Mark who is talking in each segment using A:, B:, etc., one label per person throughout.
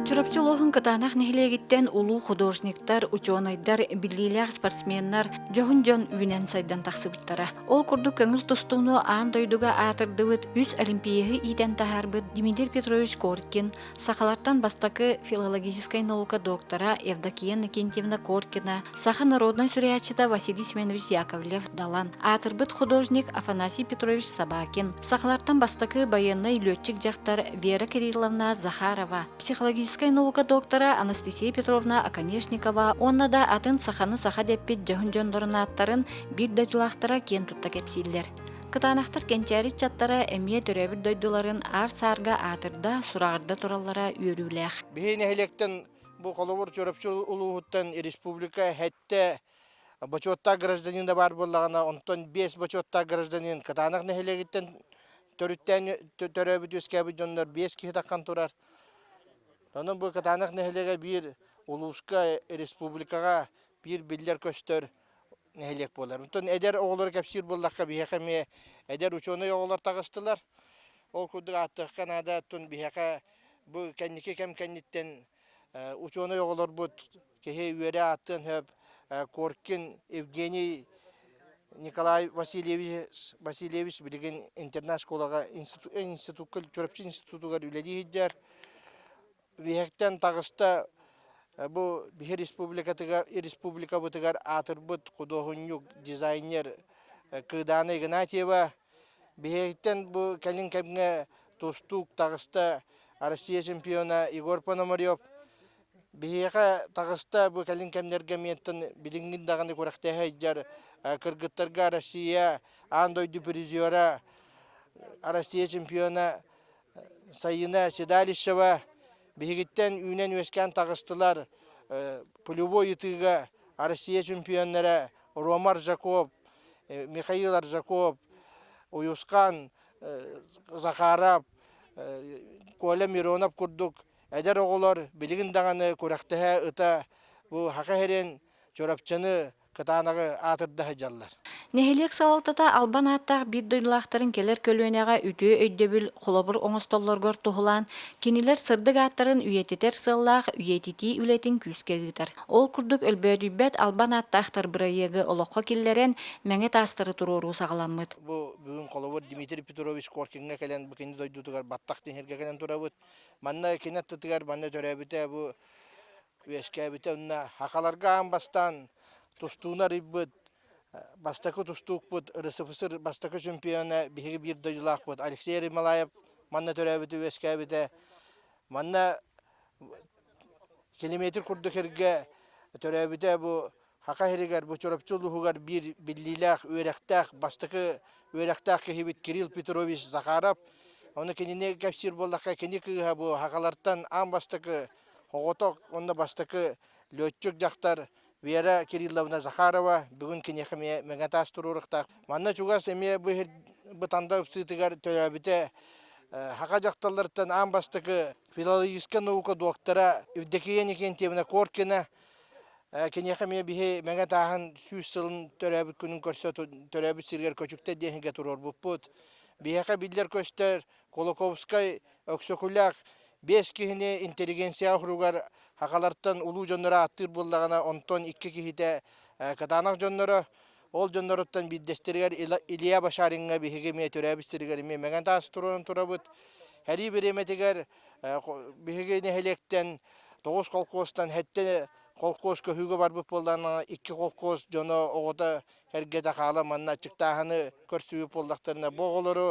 A: Чурапчы улууһун Кытаанах нэһилиэгиттэн улуу художниктар, учуонайдар, биллиилээх спортсменнар дьоһун дьон үүнэн сайдан тахсыбыттара. Ол курдук көҥүл тустууну аан дойдуга аатырдыбыт үс олимпиаһы иитэн таһаарбыт Дмитрий Петрович Коркин, сахалартан бастакы филологическай наука доктора Евдокия Накентьевна Коркина, Саха народнай суруйааччыта Василий Семенович Яковлев Далан, аатырбыт художник Афанасий Петрович Собакин, сахалартан бастакы байыаннай лүөччүк дьахтар Вера Кирилловна Захарова, психологическай наука доктора Анастасия Петровна Оконешникова уонна да атын саханы саха деппит дьоһун дьондорун ааттарын биир дойдулаахтара киэн тутта кэпсииллэр. Кытаанахтар кэнчээри чаттара эмиэ төрөөбүт дойдуларын аар-саарга аатырда, сураҕырда тураллара үөрүүлээх. Биһи нэһилиэктэн Бу холобур Чурапчы улууһуттан республика хэттэ бочуоттаах гражданина баар буоллаҕына, онтон биэс бочуоттаах гражданин Кытаанах нэһилиэгиттэн төрүттээн төрөөбүт үөскээбит дьоннор биэс киһи таххан турар. Онон бу Кытаанах нэһилиэгэ биир улууска, республикаҕа биир биллэр-көстөр нэһилиэк буолар. Онтон эдэр оҕолору кэпсиир буоллахха, биһиэхэ эмиэ эдэр учуонай оҕолор таҕыстылар. Ол курдук ааттыахха наада, оттон биһиэхэ Бу кэнники кэм кэнниттэн учуонай оҕолорбут киһи үөрэ ааттыан сөп Коркин Евгений Николай Васильевич Васильевич билигин интернат-школаҕа институкка Чурапчы институтугар үлэлии сылдьар. Үөһэттэн таҕыста бу биһи республикатыгар республикабытыгар аатырбыт худуоһунньук дизайнер Кыыдаана Игнатьева Биһиэхиттэн бу кэлин кэмҥэ тустуук таҕыста Россия чемпиона Егор Пономарев биһиэхэ таҕыста бу кэлин кэмнэргэ миэттэн билиҥҥин даҕаны күрэхтэһэ сылдьар кыргыттарга Россия аан дойду призера Россия чемпиона Сайыына Седалищева биһигиттэн үүнэн-үөскээн таҕыстылар. Пулевой ытыыга Россия чемпионнара Рома Аржаков, Михаил Аржаков, Уйусхан, Захаров, Коля Миронов курдук эдэр оҕолор билигин даҕаны күрэхтэһэ ыта бу Хаха Херен Чурапчыны кытаанаҕы аатырда сылдьаллар. Нэһилиэк салалтата албан ааттаах биир дойдулаахтарын кэлэр көлүөнэҕэ үтүө өйдөбүл, холобур оҥостоллоругар туһулаан, кинилэр сырдык ааттарын үйэтитэр сыаллаах үйэтитии үлэтин күүскэ ыытар. Ол курдук өлбөөдүйбэт албан ааттаахтар бырайыагы олоххо киллэрэн, мэҥэ таастары туруоруу саҕаламмыт. Бу бүгүн холобур Дмитрий Петрович Коркиҥҥа кэлэн бу кини дойдутугар баттах тиҥиргэ кэлэн турабыт. Манна кини аттытыгар манна төрөөбүтэ бу үөскээбитэ уонна хахаларга аан бастаан тустууну арыйбыт бастакы тустуукпут РСФСР бастакы чемпиона биһиги биир дойдулаахпыт Алексей Ермолаев манна төрөөбүтэ үөскээбитэ манна километр курдук эргэ төрөөбүтэ бу Саха сиригэр бу Чурапчы улууһугар биир биллиилээх үөрэхтээх, бастакы үөрэхтээх киһибит Кирилл Петрович Захаров. Ону кинини кэпсиир буоллахха, кини кыыһа бу сахалартан аан бастакы оҕотох уонна бастакы лүөччүк дьахтар Вера Кирилловна Захарова бүгүн киниэхэ эмиэ мэҥэ таас туруоруохтаах. Манна чугас эмиэ бу иһир бытанда ыксыытыгар төрөөбүтэ саха дьахталлартан аан бастакы филологическай наука доктора Евдокия Никентьевна Коркина Киниэхэ эмиэ биһи мэҥэ тааһын сүүс сылын төрөөбүт күнүн көрсө төрөөбүт сиригэр көчүктэр диэхингэ туруорбуппут. Биһиэхэ биллэр көстөр Кулаковскай, Өксөкүлээх биэс киһини интеллигенцияҕа уругар хахалартан улуу дьоннору ааттыыр буоллаҕына, онтон икки киһитэ Катанах дьонноро Ол дьонноруттан биирдэстэригэр Илья Башариҥҥа биһиги эмиэ төрөөбүт сиригэр эмиэ Мэҥэн Таас туруоран турабыт. Арыы бириэмэтигэр биһиги нэһилиэктэн тоҕус холкуостан хэттэ холкуос көһүүгэ барбыт буоллаҕына икки холкуос дьоно оҕото эргэтэ хаала манна аччыктааһыны көрсүбүт буоллахтарына бу оҕолору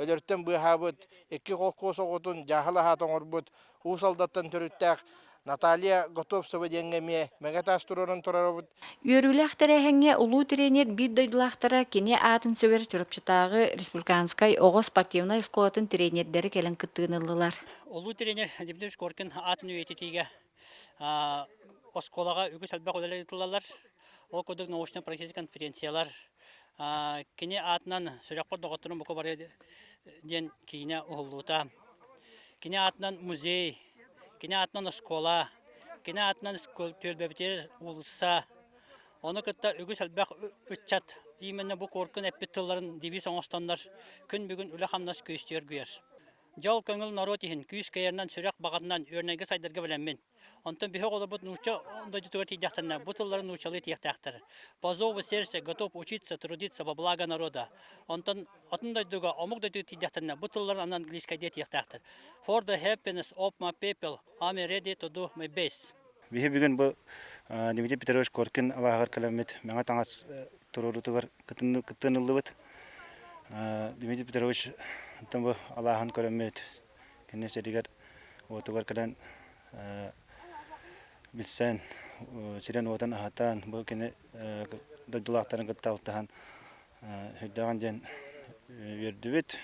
A: өлөртөн быыһаабыт икки холкуос оҕотун дьааһыл аһаата оҥорбут Уус Алдаттан төрүттээх Наталья Готовцева диэҥҥэ эмиэ мэҥэ таас туруоран тураробут. Үөрүүлээх тэрээһиҥҥэ улуу тренер биир дойдулаахтара кини аатын сүгэр Чурапчытааҕы республиканскай оҕо спортивнай оскуолатын тренердэрэ кэлэн кыттыыны ыллылар. Улуу тренер Дмитрий Шкоркин аатын үйэтитиигэ оскуолаҕа үгүс элбэх үлэлэр ыытыллалар. Ол курдук научнай-практическай конференциялар, Кини аатынан сүрэхпэр доҕотторум бука бары диэн киинэ уһуллуута. Кини аатынан музей, кини аатынан оскуола, кини аатынан түөлбэбитигэр уулусса. Ону кытта үгүс элбэх ыччат именно бу куоркун эппит тылларын девиз оҥостоннор күн бүгүн үлэ-хамнас күүстүгэр куйар. Дьол көҥүл норуот иһин күүс кыайарынан сүрэх баҕатынан үөрэнэргэ сайдарга бэлэммин. Онтон биһи оҕолорбут нуучча дойдутугар тиийдэхтэринэ бу тыллары нууччалыы тиэхтээхтэр. По зову сердце готов учиться, трудиться во благо народа. Онтон атын дойдуга, омук дойдуга тиийдэхтэринэ бу тылларын анан английскайдыы тиэхтээхтэр. For the happiness of my people, I'm ready to do my best. Биһи бүгүн бу Дмитрий Петрович Коркин алааһыгар кэлэммит мэҥэ таҥас туруоруутугар кыттыаныллыбыт Дмитрий Петрович бу алааһын көрөммүт Кини сиригэр уотугар кэлэн билсэн, сирин-уотун аһатан, бу кини дойдулаахтарын кытта алтыһан сырдааҕын диэн үөрдүбүт.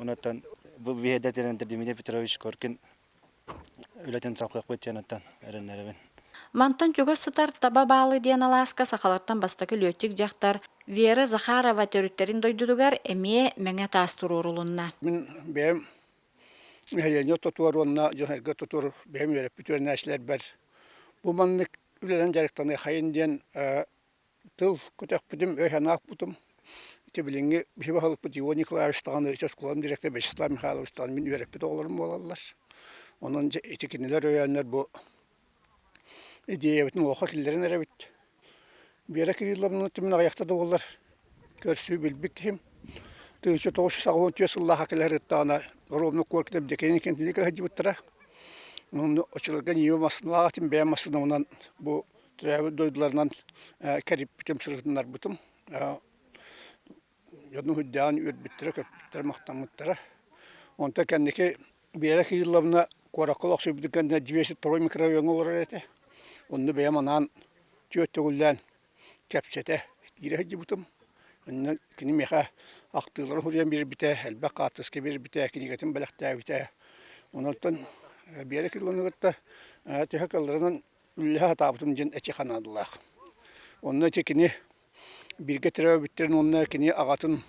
A: Онуттан бу биһиэдэ тирэнэрдэр Дмитрий Петрович Коркин үлэтин салҕыахпыт диэн оттон эрэннэрэбин. Мантан чугас сытар Таба Баалы диэн алааска сахалартан бастакы лүөччүк дьахтар Вера Захарова төрүттэрин дойдутугар эмиэ мэҥэ таас туруорулунна. Мин бэйэм нэһилиэнньэ тутуор уонна дьоһайга тутур бэйэм үөрэппит үөрэнээччилэрбэр бу маннык үлэнэн дьарыктаныахайын диэн тыл көтөхпүтүм өй санаахпытым ити билиҥҥи киһи баһылыкпыт Иван Николаевич даҕаны ыччат оскуолатын директора Вячеслав Михайлович даҕаны мин үөрэппит оҕолорум буолаллар онон дьэ ити кинилэр өйөөннөр бу идеябытын уоха киллэрэн эрэбит Вера Кирилловна түмүн аҕыйахта да уоллар көрсүү билбит иһим тыынча тоҕус саҕа уон түөрт сыллааха кэлэр ырыттаҕына оруобуна куоркитап декенин кентине кэлһэрдьибиттэрэ онно очуларга ньииба массыына ааҕатын бэйэм массыынабынан бу төрөөбүт дойдуларынан кэриппитим, сырытыннарбытым. Дьону сылдьаан үөрбүттэрэ-көппүттэрэ, махтаммыттара. Онтон кэнники Вера Кирилловна куоракка олохсуйбутун кэннэ двести микровеҥҥа олорор этэ. Онно бэйэм анаан түөрт төгүллээн кэпсэтэ киирэ сылдьыбытым. Онно кини миэхэ ахтыылары суруйан биэрбитэ, элбэх хаартыска биэрбитэ, кинигэтин бэлэхтээбитэ. Онтон Вера Кирилловны кытта төһө кылларынан үллэһэ сатаабытым диэн эчи ханаадылаах. Онно ити кини бииргэ төрөөбүттэрин уонна кини аҕатын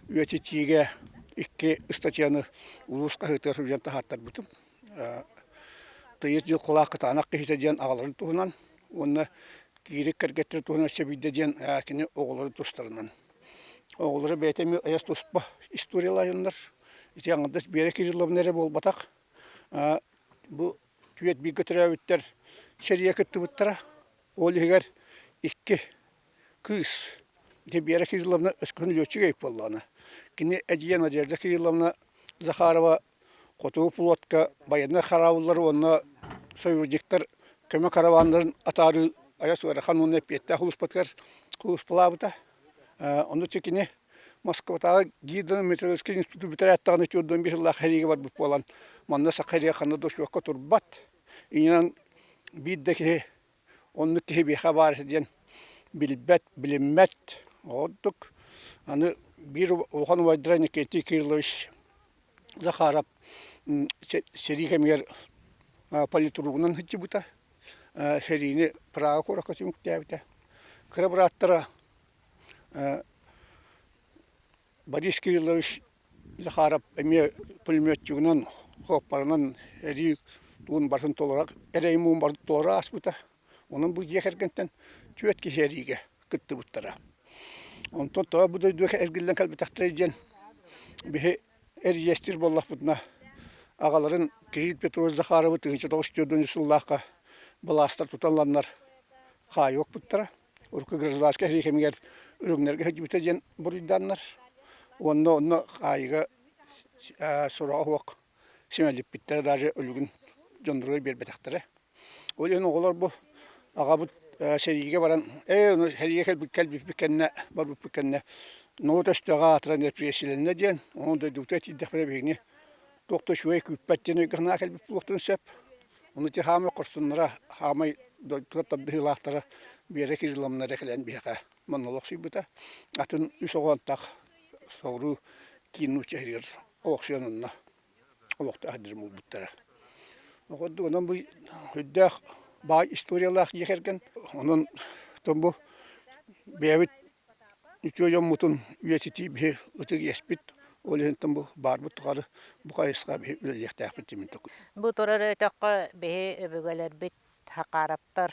A: үйэтитиигэ икки ыстатыйаны улуус хаһыытыгар суруйан таһааттарбытым. Тыйыс дьыл кулаак кытаанах киһитэ диэн аҕаларын туһунан уонна киирик кэргэттэрин туһунан сэбийдэ диэн кини оҕолорун тустарынан. Оҕолоро бэйэтэ эмиэ айас туспа историялаһыннар. Ити аҥардас Биэрэ Кирилловна эрэ буолбатах. Бу түөрт бииргэ төрөөбүттэр сэрийэ кыттыбыттара. Ол иһигэр икки кыыс Дебера Кирилловна өскөтүн лүөччүгэй буоллаҕына. Кини эдьиийэ Надежда Кирилловна Захарова хотугу пулотка байыаннай хараабыллар уонна союзниктар көмө караваннарын атаарыы айас ыарахан уонна эппиэттээх улууспатыгар кулууспалаабыта. Ону ситини Москватааҕы гидрометрологическай институт бүтэрээтэҕинэ түөрт биир сыллаах сэриигэ барбыт буолан, манна саха сэриигэ ханна да учуокка турбат. Иннинэн биир да киһи оннук киһи биһиэхэ баар этэ диэн билбэт, билиммэт. Ол ордук аны биир улахан убайдара Иннокентий Кириллович Захаров сэрии кэмигэр политругунан сылдьыбыта, сэриини Прага куоракка түмүктээбитэ. Кыра бырааттара Борис Кириллович Захаров эмиэ пулеметчигынан, хооппарынан сэрии тугун барытын толорор, эрэй муҥун барытын толору ааспыта. Онон бу дьиэ кэргэнтэн түөрт киһи эриигэ кыттыбыттара. Онтон тоҕо бу дойду эргиллэн кэлбитэхтэрэй диэн биһи эрийэстиир буоллахпытына аҕаларын Кирилл Петрович Захаровы тыһыынча тоҕус түөрт уон үс сыллаахха былаастар туталланнар хаайыахпыттара. Урукку гражданскай эрии кэмигэр үрүҥнэргэ сылдьыбыта диэн буруйдааннар. Уонна онно хаайыыга сорох Симэлиппиттэрэ даже өлүгүн дьондоругар биэрбэтэхтэрэ. Ол иһин оҕолор бу аҕабыт сэриигэ баран ээ ону сэриигэ кэлбит кэлбиппит кэннэ барбыппыт кэннэ ноот өстөөх аатыран репрессияланна диэн ону дойдубутугар тиийдэхпинэ биһигини туох да үчүгэй күүппэт диэн өйгө кэлбит буолуохтарын сөп. Ону ити хаамай хорсуннара хаамай дойдутугар тардыһыылаахтара Биэрэ Кирилловна эрэ кэлэн биһиэхэ монолог сыйбыта. Атын үс оҕоон так соҕуруу киин нуучча иһигэр олохсуйанынна олохтоох дирим булбуттара. Оҕордугунан бу үрдээх баай историялаах дьиэ кэргэн онон тон бу бэйэбит үтүө дьоммутун үйэтитии биһи ытык иэспит ол иһинтэн бу баарбыт тухары бу хайысха биһи үлэлиэхтээхпит тимин токун. Бу турар өтөххө биһи өбүгэлэрбит Хакараптар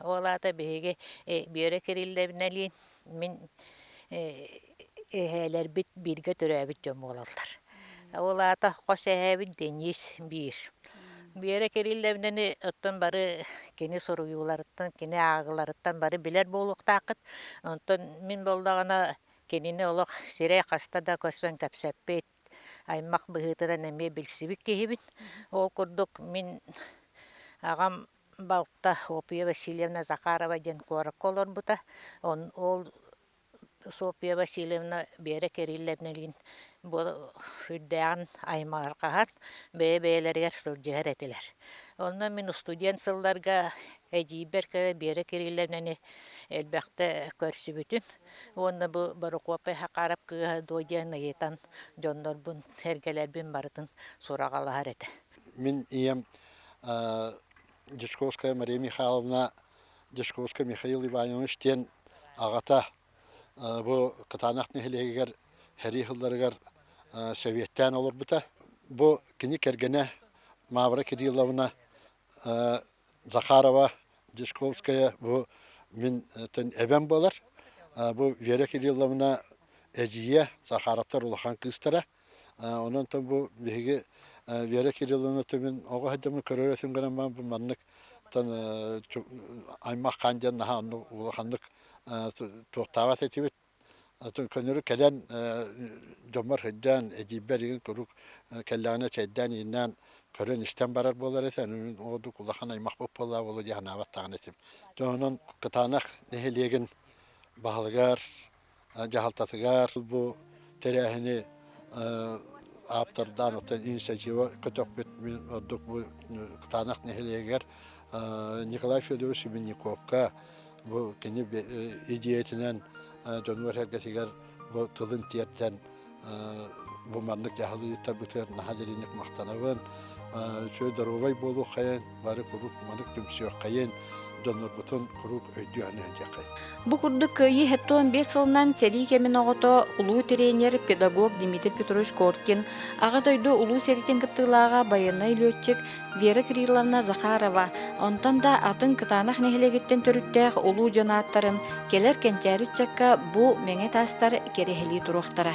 A: Ол аата биһиги Бүөрэ Кириллэбинэлиин мин эһээлэрбит бииргэ төрөөбүт дьон буолаллар. Ол аата хос эһээбин Денис биир. Бүөрэ Кириллэбинэни оттон бары кини суруйууларыттан, кини ааҕыыларыттан бары билэр буолуохтааххыт. Онтон мин буоллаҕына кинини олох сирэй хаста да көрсөн кэпсэппит, аймах быһыытынан эмиэ билсибит киһибин. Ол курдук мин аҕам Балта Софья Васильевна Захарова диэн куоракка олорбута. Ол Софья Васильевна Вера Кирилловна илин бу үрдээҕин аймарҕаһан бэйэ-бэйэлэригэр сылдьыһар этилэр. Онно мин устудьуон сылларга эдьиийбэр кэлэ Вера Кирилловнаны элбэхтэ көрсүбүтүм уонна бу Борокуоппай Хакаров кыыһа дуо диэн ыйытан дьоннорбун, эргэлэрбин барытын сураҕалаһар этэ. Мин ийэм Дьячковская Мария Михайловна Дьячковская Михаил Иванович диэн аҕата бу Кытаанах нэһилиэгигэр сэрии сылларыгар Сэбиэттээн олорбута. Бу кини кэргэнэ Мавра Кирилловна Захарова Дьячковская бу минтэн эбэм буолар. Бу Вера Кирилловна эдьиийэ Захаровтар улахан кыыстара. Онон то бу биһиги Вера Кирилловна түмүн оҕо сылдьаммын көрөрөсүн гынан баан бу маннык аймах хаан диэн наһаа онну улаханнык туохтааҕа этибит көнөрү кэлэн дьоммор сылдьан эдьиийбэр игин куруук кэллэҕинэ чэйдээн ииннээн көрөн истэн барар буолар этэ мин оодук улахан аймахпыт буоллаа буолу дии санаабаттаҕын этим тоһонон кытаанах нэһилиэгин баһылыгар дьаһалтатыгар бу тэрээһини ааптардаан оттон инициатива көтөхпүт мин ордук бу Кытаанах нэһилиэгэр Николай Федорович Сибинниковка бу кини идиэйэтинэн дьонугар сэргэтигэр бу тылын тиэртэн бу маннык дьаһал ыытарбытыгар наһаа дьэринник махтанабын үчүгэй доруобай буолуоххайын бары куруук манык түмсүөххэйин донорбутун куруук өйдүөхүн өйдүөххэйин Бу курдук кыайыы хэттон биэс сылынан сэрии кэмин оҕото, улуу тренер, педагог Дмитрий Петрович Коркин, Аҕа дойду улуу сэриитин кыттыылааҕа байыаннай лүөччүк Вера Кирилловна Захарова, онтон да атын кытаанах нэһилиэгиттэн төрүттээх улуу дьон ааттарын кэлэр кэнчээри ыччакка бу мэҥэ таастар кэрэһилии туруохтара.